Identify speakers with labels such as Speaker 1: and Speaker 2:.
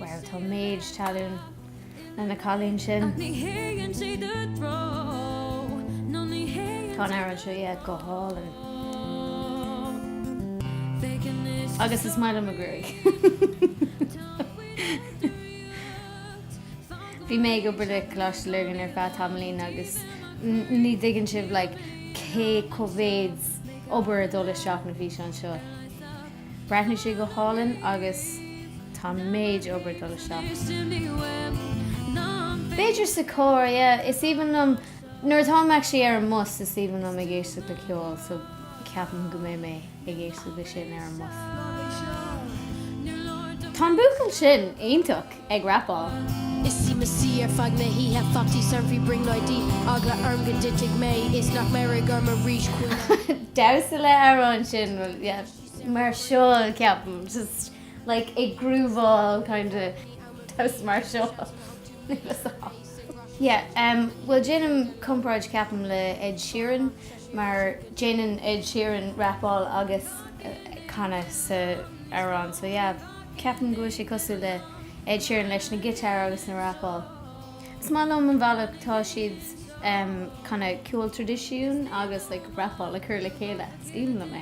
Speaker 1: Wow tá méid tallann ag an cailín sin. Tá an amhrán seo yeah go hálainn. Agus is maith liom a gruaig. Bhí mé ag obair le Coláiste Lurgan ar feadh tamaillín agus ní dtuigeann sibh like cé mhéad obair ag dul isteach na físeáin seo. Bhreathnaigh sé go hálainn agus tá an méid obair ag dul isteach. B'fhéidir sa charr, yeah. Is aoibhinn liom, nuair atá mé actually ar an mbus, is aoibhinn liom ag éisteacht le ceol so ceapaim go mbeidh mé ag éisteacht le sin ar an mbus. Tá an buachaill sin iontach. ag rapáil. Is í
Speaker 2: mo shíob ar feadh na hoíche Taxi fríd brionglóidí Eagla orm go dtitfidh mé is nach mbéarfaidh orm arís Chuala damhsa le
Speaker 1: amhrán sin bhuel yeah mar seo ceapaim just like ag grúváil kind of damhsa mar seo yeah um bhuel déanaim comparáid ceapaim le Ed Sheeran mar déanann Ed Sheeran rapáil agus canadh sa amhrán so yeah ceapaim go bhfuil sé cosúil le Ed Sheeran leis na guitar agus na rapáil. Is maith liom an bhealach tá siad um kinda ceol traidisiún agus like rapáil a chur le chéile. Is aoibhinn liom é.